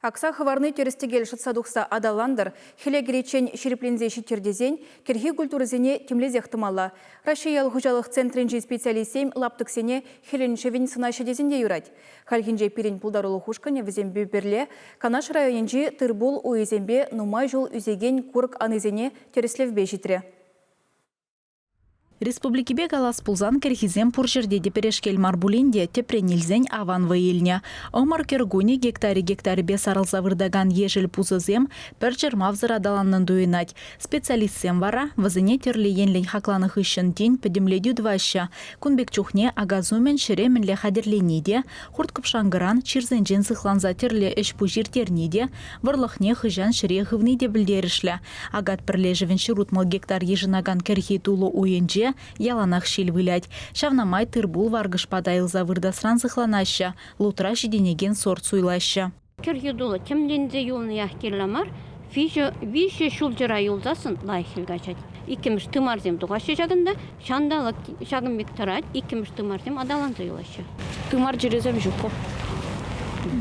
Акса хӑварни тӗрӗс-тӗкел шӑтса тухса аталантӑр, хӗле кӗриччен ҫирӗпленсе ҫиттӗр тесен кӗрхи культурӑсене тимлесех тӑмалла. Раҫҫей ял хуҫалӑх центрӗнчи специалистсем лаптӑксене хӗлӗн-шӗвӗн сӑнаҫҫӗ тесен те юрать. Хальхинче пирӗн пултарулӑх ушкӑнӗ вӗсемпе пӗрле Канаш районӗнчи тыр-пул уйӗсемпе нумай ҫул ӳсекен курӑк анисене тӗрӗслевпе ҫитрӗ. Республикипе калас пулсан кӗрхисем пур ҫӗрте те пӗрешкел мар пулин те тӗпрен илсен аван вӑй илнӗ. Ӑмӑр кӗр кунӗ гектарӗ-гектарӗпе сарӑлса выртакан ешӗл пусӑсем пӗр чӑрмавсӑр аталаннӑн туйӑнать. Специалистсем вара вӗсене тӗрлӗ енлӗн хакланӑ хыҫҫӑн тин пӗтӗмлетӳ тӑваҫҫӗ. Кун пек чухне акас умӗн ҫӗре мӗнле хатӗрлени те, хурт-кӑпшанкӑран чирсенчен сыхланса тӗрлӗ ӗҫ-пуҫ ирттерни те, вӑрлӑхне хӑҫан ҫӗре хывни те пӗлтерӗшлӗ. Акат пӗрлешӗвӗн ҫурутмӑл гектар йышӑнакан кӗрхи тулӑ уйӗнче яланах ҫил вылять. Ҫавна май тыр-пул варкӑш пата илса выртасран сыхланаҫҫӗ, лутра ҫитӗнекен сорт суйлаҫҫӗ. Кӗрхи тулӑ тӗмленсе юлниях кирлӗ мар, виҫӗ ҫулҫӑра юлсассӑн лайӑххи каҫать. Иккӗмӗш тымарсем тухаҫҫӗ ҫакӑнта, Ҫанталӑк ҫакӑн пек тӑрать, иккӗмӗш тымарсем аталанса юлаҫҫӗ. Тымар чирӗсем ҫук пур.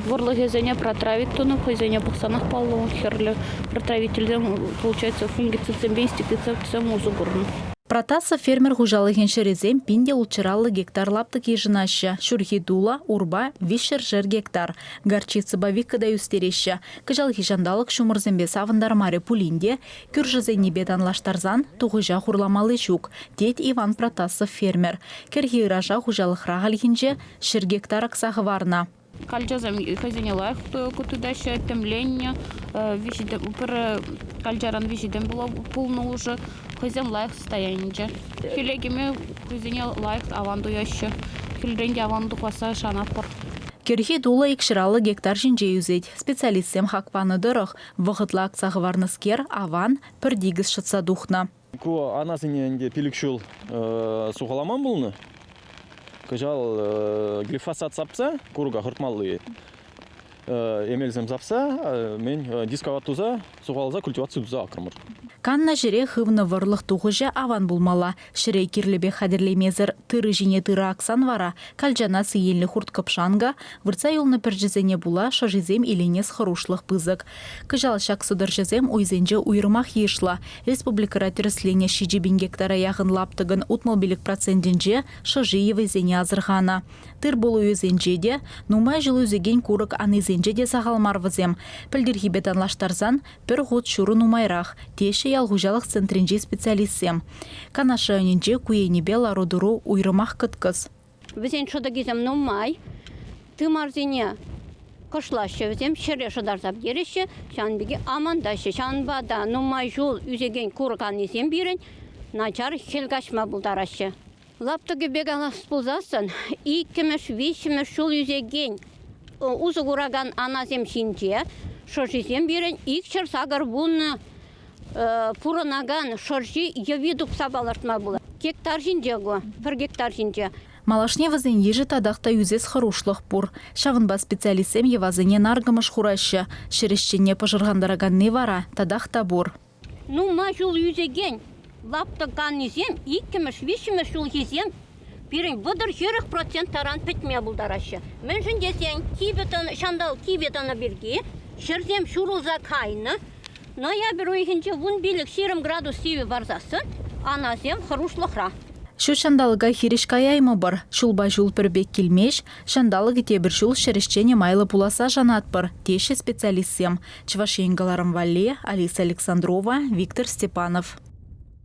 Вӑрлӑхӗсене протравить тунӑ, хӑйсене пӑхсанах паллӑ. Хӗрлӗ протравительсем, получается, фунгицидсемпе инсектицидсем усӑ курнӑ. Протасса фермер хуҫалӑхӗн ҫӗрӗсем пин те ултҫӑраллӑ гектар лаптӑк йышӑнаҫҫӗ. Ҫурхи тула, урпа, виҫ ҫӗршер гектар. Горчицӑпа викӑ та ӳстереҫҫӗ. Кӑҫалхи ҫанталӑк ҫумӑрсемпе савӑнтармарӗ пулин те, Кӳршӗсеннипе танлаштарсан тухӑҫа хурламалли ҫук, тет Иван Протасов фермер. Кӗрхи ыраша хуҫалӑхра хальхинче ҫӗр гектар акса хӑварнӑ. Калчасем хӑйсене лайӑх тытаҫҫӗ, тӗмленнӗ. Пӗр калчаран виҫӗ тӗм пулнӑ улшӑ хӑйсем лайӑх состоянинче. Хӗле кӗме хӑйсене лайӑх аван туяҫҫӗ. Хӗлрен те аван тухасса шанатпӑр. Кӗрхи тулӑ икҫӗраллӑ гектар ҫинче ӳсет. Специалистсем хак панӑ тӑрӑх, Вӑхӑтлӑ акса хӑварнӑскер аван, пӗр тикӗс шӑтса тухнӑ. Ку анасене ӗнтӗ пилӗк ҫул сухалама пулнӑ. Кӑҫал глифосат сапса курка хӑртмалли эмелсем сапса мен дисковат туса сухаласа культиваци туса акрӑмӑр. Каннӑ ҫӗре хывнӑ вӑрлӑх тухӑҫӗ аван пулмалла, Ҫӗре кирлӗпех хатӗрлемесӗр тырӑ ҫине тырӑ аксан вара калчана сиенлӗ хурт-кӑпшанка, выртса юлнӑ пӗрчӗсене пула шӑшисем иленес хӑрушлӑх пысӑк. Кӑҫал ҫак сӑтӑрҫӑсем уйсенче уйрӑмах йышлӑ. Республикӑра тӗрӗсленӗ ҫичӗ пин гектара яхӑн лаптӑкӑн утмӑл пилӗк процентӗнче шӑши йӑвисене асӑрханӑ. Тыр-пул уйӗсенче те, нумай ҫул ӳсекен курӑк анисенче те сахал мар вӗсем. Пӗлтӗрхипе танлаштарсан Пӗр хут ҫуру нумайрах, теҫҫӗ ял хуҫалӑх центрӗнчи специалистсем. Канаш районӗнче ку енӗпе лару-тӑру уйрӑмах кӑткӑс. Вӗсен шӑтӑкӗсем нумай. Тымарсене кӑшлаҫҫӗ вӗсем, ҫӗре шӑтарса пӗтереҫҫӗ. Ҫавӑн пирки амантаҫҫӗ. Ҫавӑнпа та нумай ҫул ӳсекен курӑк анисем пирӗн начар хӗл каҫма пултараҫҫӗ. Лаптӑкӗпе канас пулсассӑн иккӗмӗш, виҫҫӗмӗш ҫул ӳсекен усӑ куракан анасем ҫинче шӑшисем пирӗн икҫӗр-сакӑр вуннӑ пурӑнакан шӑрҫи йӑви тупса палӑртма пулать. Гектар ҫинче ку, пӗр гектар ҫинче. Малашне вӗсен йышӗ татах та ӳсес хӑрушлӑх пур. Ҫавӑнпа специалистсем йӑвасене наркӑмӑш хураҫҫӗ. Ҫӗр ӗҫченне пӑшӑрхантараканни вара татах та пур. Нумай ҫул ӳсекен лаптӑканисем иккӗмӗш-виҫҫӗмӗш ҫулхисем пирӗн вӑтӑр-ҫирӗх процент таран пӗтме пултараҫҫӗ. Мӗншӗн тесен кивӗ тӑнӑ, ҫанталӑк кивӗ тӑнӑ пирки ҫӗрсем ҫурӑлса кайнӑ. Ноябрь уйӑхӗнче вун пилӗк ҫирӗм градус сивӗ парсассӑн анасем хӑрушлӑхра. Ҫут ҫанталӑка хирӗҫ каяймӑпӑр. Ҫулпа ҫул пӗр пек килмест, ҫанталӑкӗ тепӗр ҫул ҫӗр ӗҫченӗ майлӑ пуласса шанатпӑр, теҫҫӗ специалистсем. Чӑваш Ен кӑларӑм валли, Алиса Александрова, Виктор Степанов.